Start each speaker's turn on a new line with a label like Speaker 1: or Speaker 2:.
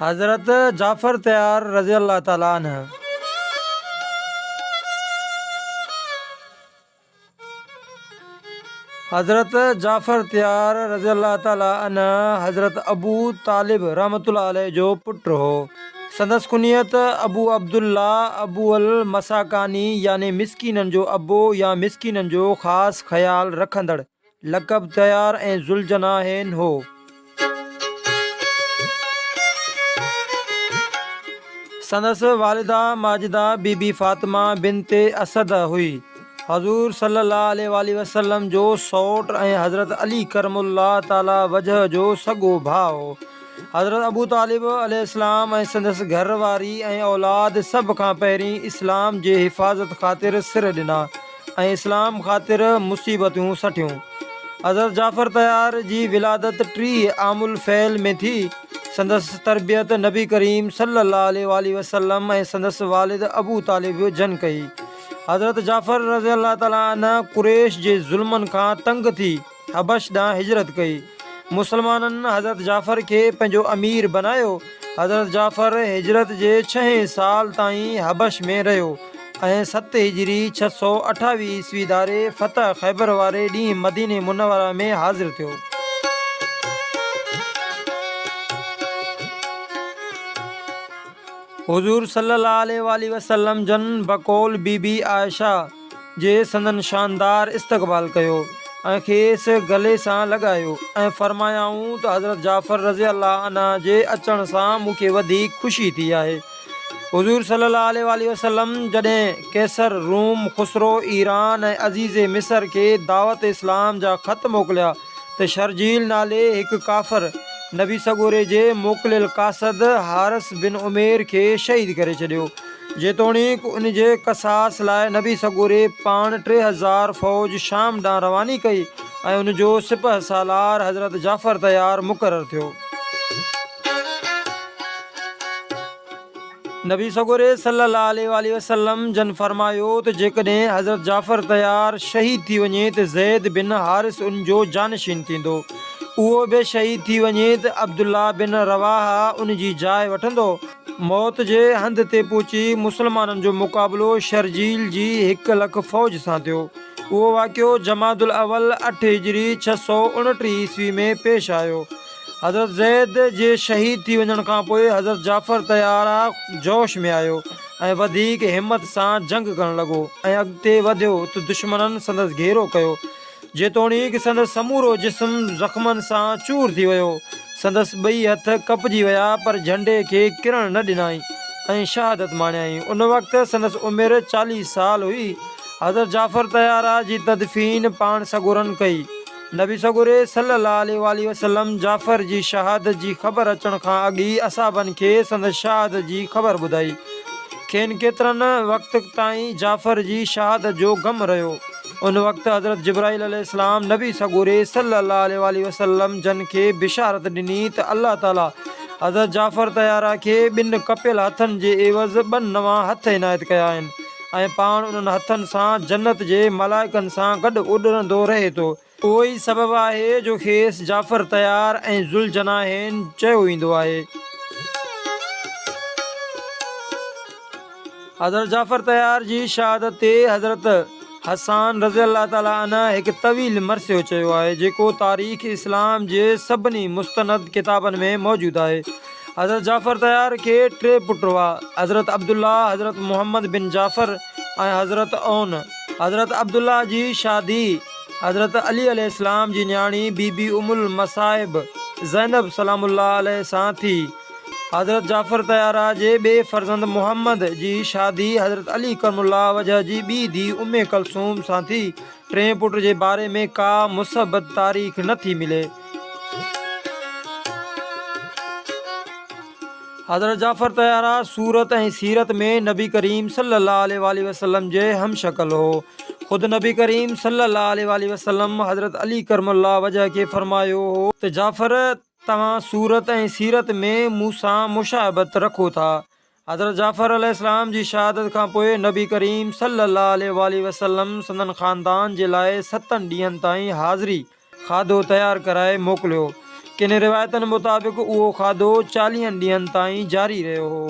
Speaker 1: حضرت جعفر تيار رضي الله تعالٰي عنه حضرت جعفر تيار رضي الله تعالٰي عنه حضرت ابو طالب رحمة الله عليه جو پٽ هو سندس ڪنيت ابو عبدالله، ابو المساڪاني يعني مسڪينن جو ابو يا مسڪينن جو خاص خيال رکندڙ، لقب طيار ۽ ذوالجناحين هو. سندس والده ماجده بي بي فاطمه بنت اسد هئي. حضور صلي الله عليه واٰله وسلم جو سئوٽ ۽ حضرت علي ڪرم الله تعالٰي وجهه جو سڳو ڀاء هو. حضرت ابو طالب عليه السلام ۽ سندس گهر واري ۽ اولاد سڀ کان پهرين اسلام جي حفاظت خاطر سر ڏنا ۽ اسلام خاطر مصيبتون سٺيون. حضرت جعفر طيار جي ولادت ٽيهه عام الفيل ۾ ٿي. سندس تربيت نبي ڪريم صلّي اللّٰه عليه واٰله وسلّم ۽ سندس والد ابو طالب جن ڪئي. حضرت جعفر رضي الله تعالٰي عنه قريش جي ظلمن کان تنگ ٿي. حبش ڏانهن هجرت ڪئي. مسلمانن حضرت جعفر کي پنهنجو امير بنايو. حضرت جعفر هجرت جي ڇهين سال تائين حبش ۾ رهيو ۽ ست هجري، ڇهه سؤ اٺاويهه عيسوي، ڌاري فتح خيبر واري ڏينهن مديني منوره ۾ حاضر ٿيو. حضور صلّي اللّٰه عليه واٰله وسلّم جن بقول بي بي عائشه، جي سندن شاندار استقبال ڪيو ۽ کيس گلي سان لڳايو ۽ فرمايائون ته حضرت جعفر رضي الله عنه جي اچڻ سان مون کي وڌيڪ خوشي ٿي آهي. حضور صلّي الله عليه واٰله وسلّم جڏهن قيصر روم، خسرو ايران ۽ عزيزي مصر کي دعوت اسلام جا خط موڪليا، ته شرحجيل نالي هڪ ڪافر نبي سڳوري جي موڪليل قاصد حارث بن عمير کي شهيد ڪري ڇڏيو، جيتوڻيڪ ان جي قصاص لاء نبي سڳوري پاڻ ٽي هزار فوج شام ڏانهن رواني ڪئي ۽ ان جو سپهه سالار حضرت جعفر طيار مقرر ٿيو. نبي سڳوري صلّي اللّٰه عليه واٰله وسلّم جن فرمايو ته جيڪڏهن حضرت جعفر طيّار شهيد ٿي وڃي ته زيد بن حارث ان جو جانشين ٿيندو، اهو به شهيد ٿي وڃي ته عبدالله بن رواحه ان جي جاء وٺندو. موت جي هنڌ تي پهچي مسلمانن جو مقابلو شرجيل جي هڪ لک فوج سان ٿيو. اهو واقعو جمادالاول اٺ هجري ڇهه سؤ اڻٽيهه عيسوي ۾ پيش آيو. حضرت زيد جي شهيد ٿي وڃڻ کانپوء حضرت جعفر طيارا جوش ۾ آيو ۽ وڌيڪ همت سان جنگ ڪرڻ لڳو ۽ اڳتي وڌيو ته دشمنن سندس گهيرو ڪيو. جيتوڻيڪ سندس سمورو جسم زخمن سان چور ٿي ويو، سندس ٻئي هٿ ڪپجي ويا پر جهنڊي کي ڪرڻ نه ڏنائين ۽ شهادت ماڻيائين. ان وقت سندس عمر چاليهه سال هئي. حضرت جعفر طيارا جي تدفين پاڻ سڳورن ڪئي. نبي سڳوري صلّي الله عليه واٰله وسلّم جعفر جي شهادت جي خبر اچڻ کان اڳ ئي اصحابن کي سندس شهادت جي خبر ٻڌائي. کين ڪيترن وقت تائين جعفر جي شهادت جو غم رهيو. ان وقت حضرت جبرائيل عليه السّلام نبي سڳوري صلّي الله عليه واٰله وسلّم جن کي بشارت ڏني ته الله تعاليٰ حضرت جعفر طيّاره کي ٻن ڪپيل هٿن جي عيوض ٻه نوان هٿ عنايت ڪيا آهن. ۽ پاڻ انهن هٿن سان جنت جي ملائڪن سان گڏ اڏرندو رهي ٿو. اهو ئي سبب آهي جو کيس جعفر طيار ۽ ذوالجناحين چيو ويندو آهي. حضرت جعفر طيار جي شهادت تي حضرت حسان رضي الله تعالٰي عنه هڪ طويل مرثيو چيو آهي، جيڪو تاريخ اسلام جي سڀني مستند ڪتابن ۾ موجود آهي. حضرت جعفر طيار کي ٽي پٽ هئا، حضرت عبدالله، حضرت محمد بن جعفر ۽ حضرت عون. حضرت عبدالله جي شادي حضرت علي عليه السلام جي نياڻي بي بي ام المصائب زينب سلام الله عليه سان ٿي. حضرت جعفر طيارء جي ٻئي فرزند محمد جي شادي حضرت علي ڪرم الله وجهه جي ٻي ڌي ام ڪلثوم سان ٿي. ٽئين پٽ جي باري ۾ ڪا مثبت تاريخ نه ٿي ملي. حضرت جعفر طيارا صورت ۽ سيرت ۾ نبي ڪريم صلي الله عليه وآله وسلم جي هم شڪل هو خود نبي ڪريم صلي الله عليه وآله وسلم حضرت علي ڪرم الله وجهه کي فرمايو هو ته جعفر توهان صورت ۽ سيرت ۾ مون سان مشابهت رکو ٿا حضرت جعفر عليه السلام جي شهادت کان پوء نبي ڪريم صلّي الله عليه واٰله وسلّم سندن خاندان جي لاء ستن ڏينهن تائين حاضري کاڌو تيار ڪرائي موڪليو. ڪن روايتن مطابق اهو کاڌو چاليهن ڏينهن تائين جاري رهيو هو.